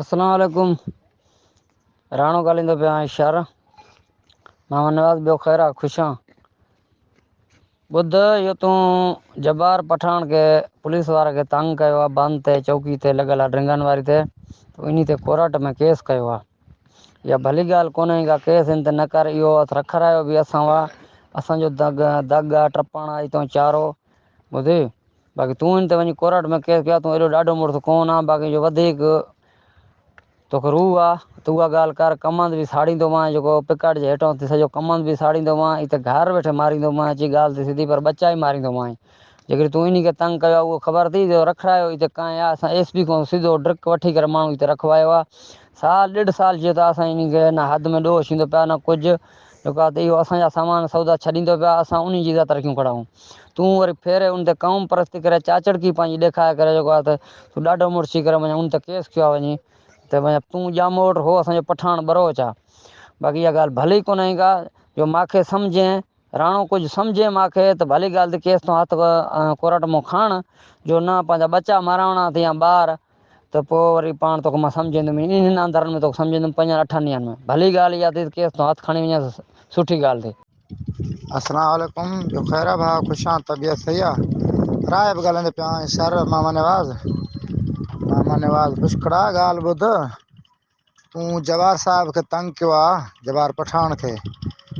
اسلام عليڪم راڻو ڳالهائيندو پيو آهيان شر محمد نواز ٻيو خير آ خوش آن ٻڌ اهو تون جبار پٺاڻ کي پوليس وارا کي تنگ ڪيو آ بند تي چوڪي تي لڳل آ ڊرنگن واري تي تو انهي تي ڪورٽ ۾ ڪيس ڪيو آ اها ڀلي ڳالهه ڪونه هي ڪا ڪيس ان تي نه ڪر اهو اٿ رکرايو به اسان وا اسان جو دڳ دڳ آ ٽپاڻا آ تون چارو ٻڌي باقي تون هن تي وڃي ڪورٽ ۾ ڪيس ڪيا تون ايڏو ڏاڍو مڙس ڪون آن باقي جو وڌيڪ توکي روح آ ته اها ڳالهه ڪر ڪمند به ساڙيندومانء جيڪو پڪاٽ جي هيٺان اٿي سڄو ڪمند به ساڙيندومانء اٿي گهر ويٺي ماريندومانء اچي ڳالهه ته سڌي پر ٻچائي ماريندومانء جيڪڏهن تون انهي کي تنگ ڪيو آ اهو خبر اٿئي جو رکرايو اٿي ڪانء آ اسان ايس پي کان سڌو ڊرڪ وٺي ڪري ماڻهو اٿي رکوايو آ سال ڏيڍ سال جيو ته اسان انهي کي نه حد ۾ ڏوهه ڇيندو پيا نه ڪجهه جيڪا ته اهو اسان جا سامان سودا ڇڏيندو پيا اسان انهي جي ذات رکيون کڙا هون. تون وري ڦيري ان تي قوم پرستي ڪري چاچڙڪي پنهنجي ڏيکاري ڪري جيڪو آهي ته تون ڏاڍو مڙس ٿي ڪري مڃ ان تي ڪيس ڪيو آهي وڃي ته مڃ تون ڄاموٽ هو اسان جو پٺاڻ ٻروچ آ باقي اها ڳالهه ڀلي ئي ڪونهي ڪا جو ماکي سمجهين راڻو ڪجهه سمجهين ماکي ته ڀلي ڳالهه ته ڪيس تون هٿ ڪورٽ مون کاڻ جو نه پنهنجا ٻچا ماراوڻا اٿئي يا ٻار ته پوء وري پاڻ توکي مان سمجهيندم ئي انهن اندرن ۾ توکي سمجهيندم پنجن اٺن ڏينهن ۾ ڀلي ڳالهه اها ٿي ته ڪيس تون هٿ کڻي وڃين ته سٺي ڳالهه ٿي. السلام عليڪم جو خير آ ڀاء خوش آن طبيعت صحيح آ راء به ڳالهائيندي پيو آهين سر محمد نواز محمد نواز پشڪڙا ڳالهه ٻڌ. تون جبار صاحب کي تنگ ڪيو آ جبار پٺاڻ کي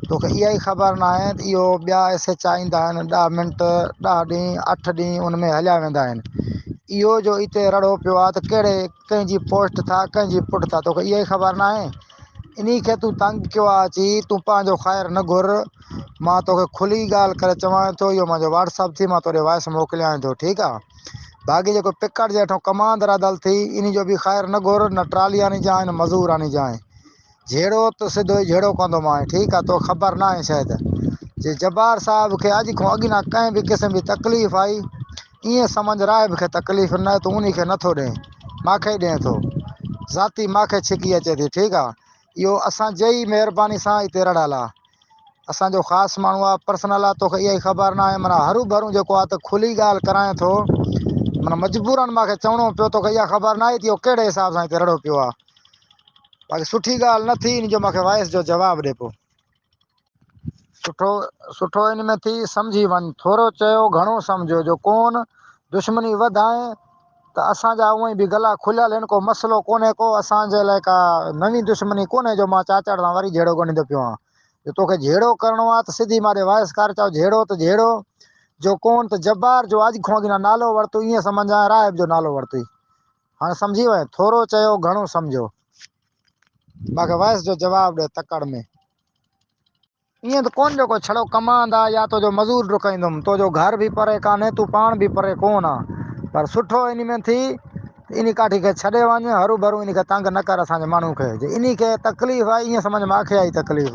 توکي اها ئي خبر ناهي ته اهو ٻيا ايس ايچ آء ايندا آهن ڏهه منٽ ڏهه ڏينهن اٺ ڏينهن ان ۾ هليا ويندا آهن اهو جو اتي رڙو پيو آ ته ڪهڙي ڪنهن جي پوسٽ ٿا ڪنهن جي پٽ ٿا توکي اها ئي خبر ناهي انهي کي تون تنگ ڪيو آ اچي تون پنهنجو خير نه گهر مان توکي کلي ڳالهه ڪري چوان ٿو اهو منهنجو واٽس اپ ٿي مان توڏي وائس موڪليان ٿو ٺيڪ آ باقي جيڪو پڪاٽ جي هيٺون ڪمان درادل ٿي، انهي جو به خير نه گهر، نه ٽرالي آڻي جانء، نه مزور آڻي جانء. جهيڙو ته سڌو ئي جهيڙو ڪندو مانء. ٺيڪ آ، توکي خبر ناهي شايد، جي جبار صاحب کي اڄ کان اڳ نه ڪنهن به قسم جي تڪليف آئي. ائين سمجهه راهب کي تڪليف نه، تون انهي کي نٿو ڏئين، ماکي ئي ڏئين ٿو. ذاتي ماکي ڇڪي اچي ٿي. ٺيڪ آ، اهو اسان جي ئي مهرباني سان اتي رڙهيل آ. اسان جو خاص ماڻهو آ، پرسنل آ، توکي اها ئي خبر ناهي، معنيٰ هرون ڀرون جيڪو آ ته کلي ڳالهه ڪرانء ٿو، معنيٰ مجبوراً مان کي چوڻو پيو، توکي اها خبر ناهي ته اهو ڪهڙي حساب سان اتي رڙهيو پيو آ. باقي سٺي ڳالهه نه ٿي، ان جو مان کي وائس جو جواب ڏي پيو. سٺو سٺو ان ۾ ٿي سمجهي وڃ. ٿورو چيو گهڻو سمجهيو جو ڪون دشمني وڌائين ته اسان جا اونئي به گلا کليل هن ڪو مسئلو ڪونهي ڪو اسان جي لاء ڪا نوين دشمني ڪونهي جو مان چاچڙ سان وري جهيڙو ڳنڍيندو پيو آهيان جو توکي جهيڙو ڪرڻو آهي ته سڌي ماري وائس ڪار چاء جهيڙو ته جهيڙو جو ڪون ته جبار جو اڄ کون اڳ نالو ورتو ائين سمجهان راهب جو نالو ورتوئي هاڻ سمجهي وئين ٿورو چيو گهڻو سمجهيو. ماکي وائس جو جواب ڏي تڪڙ ۾. ائين ته ڪونه جو ڪو ڇڙو ڪماند آ يا تو جو مزور ڊڪائيندم تو جو گهر به پري ڪانهي تون پاڻ به پري ڪونه آ پر سٺو انهي ۾ ٿي ته انهي ڪاٺي کي ڇڏي وڃ هرو ڀرو انهي کي تنگ نه ڪر اسان جي ماڻهو کي جي انهي کي تڪليف آ ائين سمجهه ماکي آئي تڪليف.